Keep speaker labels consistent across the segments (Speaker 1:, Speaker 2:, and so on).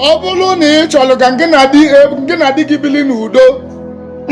Speaker 1: ọ bụrụ na ị chọrọ ka gị na di e, gị na di gị bili n'udo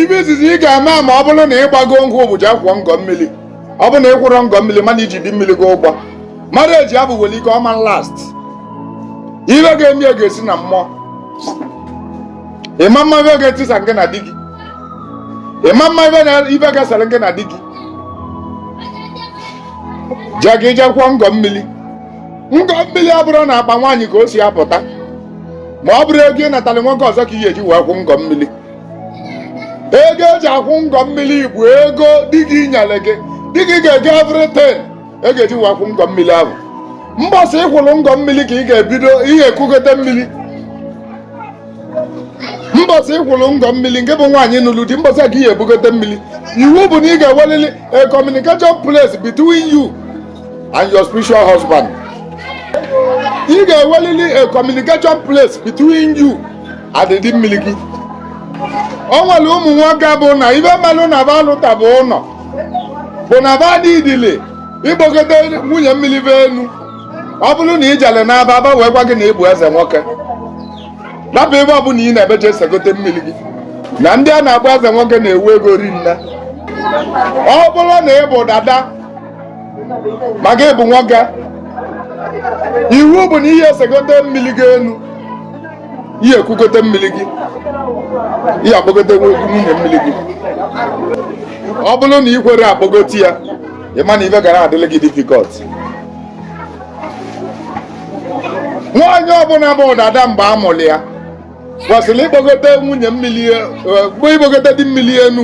Speaker 1: ibe izizi ị ga-eme ma ọ bụrụ na ị gbago nkwụ bụ ije akwụ ngọ mmiri ọ bụrụ na ị kwụrọ ngọ mmiri ma na i ji di mmiri gị ụgwọ marriage abụ nwere ike ọ ma last ibe ga-eme ya ga-esi na mmụọ ị ma ama ibe ga-etisa gị na di gị ị ma ama ibe na ibe ga-esere gị na di gị jee ka i je kwụọ ngọ mmiri ngọ mmiri ọ bụrọ n'akpa nwaanyị ka o si apụta ma ọ bụrọ ego ị natara nwoke ọzọ ka ị ga-eji wee kwụ ngọ mmiri ego eji akwụ ngọ mmiri bụ ego di gị nyere gị di gị ga-ego everything e ga-eji wee kwụ ngọ mmiri ahụ mbọsị ị kwụrụ ngọ mmiri ka ị ga-ebido ihe ekugote mmiri mbọsị ị kwụrụ ngọ mmiri gị bụ nwaanyị nụrụ di mbọsị a ka ị ga-ebugote mmiri iwu bụ na ị ga-ewelili a communication place between you and your spiritual husband ị ga-ewelili a communication place between you and ndị mmiri gị o nwere ụmụ nwoke bụ na ibe mere na ba alụta bụ ụlọ bụ na ba n'idili ịkpọgote nwunye mmiri ba enu ọ bụrụ na ị jere n'aba aba wee gwa gị na ị bụ eze nwoke rapụ ibe ọ bụla ị na-eme jee segote mmiri gị na ndị a na-akpọ eze nwoke na-enwe ego rinne ọ bụrụ na ị bụ dada ma gị bụ nwoke iwu bụ na ị ga-esegote mmiri gị enu ị ga-ekugote mmiri gị ị ga-akpọgote nwunye mmiri gị ọ bụrụ na ị kwerọ akpọgote ya ị ma na ibe ga na-adịrị gị difficult nwaanyị ọbụla bụ dada mgbe a mụrụ ya kwesịrị ịkpọgote nwunye mmiri e, bụ ịkpọgote di mmiri enu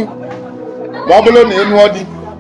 Speaker 1: ma ọ bụrụ na ị nụọ di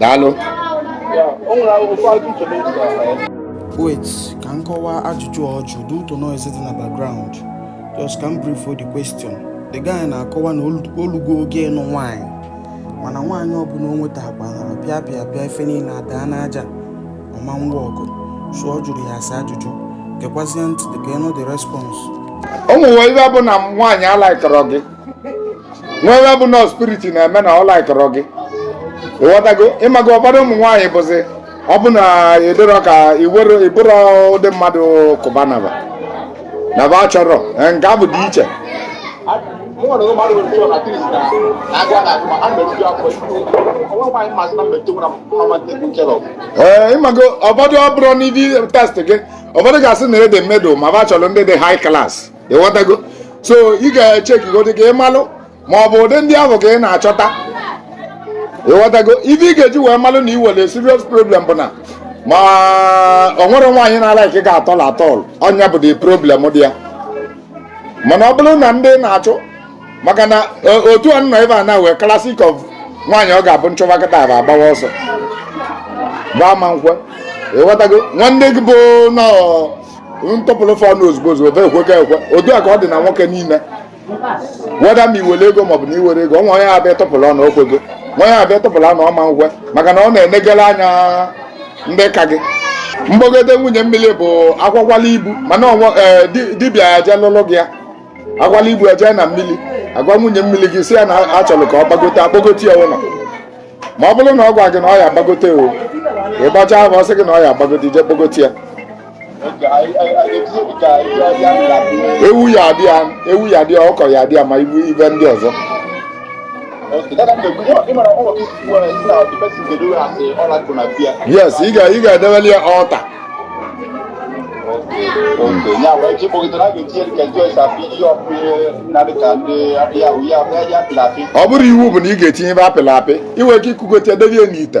Speaker 2: daalụ wait
Speaker 3: ka m kọwaa ajụjụ ọ jụ due to noise dị na background just ka m briefuo the question the guy na-akọwa na o lugo oge ịnụ nwaanyị mana nwaanyị ọbụla o nwetakwa pịa pịa pịa ife niile adaa n'aja ọ ma nwa ọgụ so ọ jụrụ ya asa ajụjụ gekwazie ntị ka ị nụ the response o nwe
Speaker 1: ibe bụ na nwaanyị alikerọ gị nwe ibe bụ na spirit na-eme na ọ likerọ gị ị ghọtago ị mago ụfọdụ ụmụ nwaanyị bụzi ọ bụ na ị dịrọ ka ị bụrọ ụdị mmadụ kụbanaba na ba chọrọ nke abụ dị iche ee ịmago ụfọdụ ọ bụrụ ndị taste gị ụfọdụ ga-asị na ị dị middle ma ba chọrọ ndị dị high class ịghọtago so ị ga-echekigodi ka ị malụ ma ọ bụ ụdị ndị ahụ ka ị na-achọta ịghọtago ife ị ga-eji wee malụ na i nwere serious problem bụ na ma ọ nwerọ nwaanyị na-alike gị at all at all ọ nya bụ the problem dị ya mana ọ bụrụ na ndị na-achụ maka na e, otu a nọ ebe a na wee classic of nwaanyị ọ ga-abụ nchọba kịta ba agbawa ọsọ ba ama nkwe ịghọtago nwanne gị bụ na m tọpụrụ fa ọnụ ozugbo ozugbo ba ekwego ekwe otu a ka ọ dị na nwoke niile whether ma i nwere ego maọbụ na i nwerọ ego nwee onye abịa tọpụrụ ọnụ o kwego nwee onye abịa tọpụrụ ọnụ ọ ma nkwe maka na ọ na-enegara anya ndị ka gị mkpọgote nwunye mmiri bụ akwakwala ibu mana ọnwa eh, di- dibịa ejee lụlụ gị ya akwala ibu ejee na mmiri agwa nwunye mmiri gị si ya na achọrọ ka ọ gbagote akpọgote ya ụlọ ma ọ bụrụ na ọ gwa gị na ọ ya agbagote o ị gbachaa afa ọ sị gị na ọ ya agbagote i je kpọgote ya ewu ya adị ya ewu ya adị ya ọkụkọ ya adị ya ma ibu ife ndị ọzọ yes ị ga ị ga-edebeli ya altar ọ bụrọ iwu bụ na ị ga-etinye ife apịlị apị i nwe ike ikugote debe ya n'ite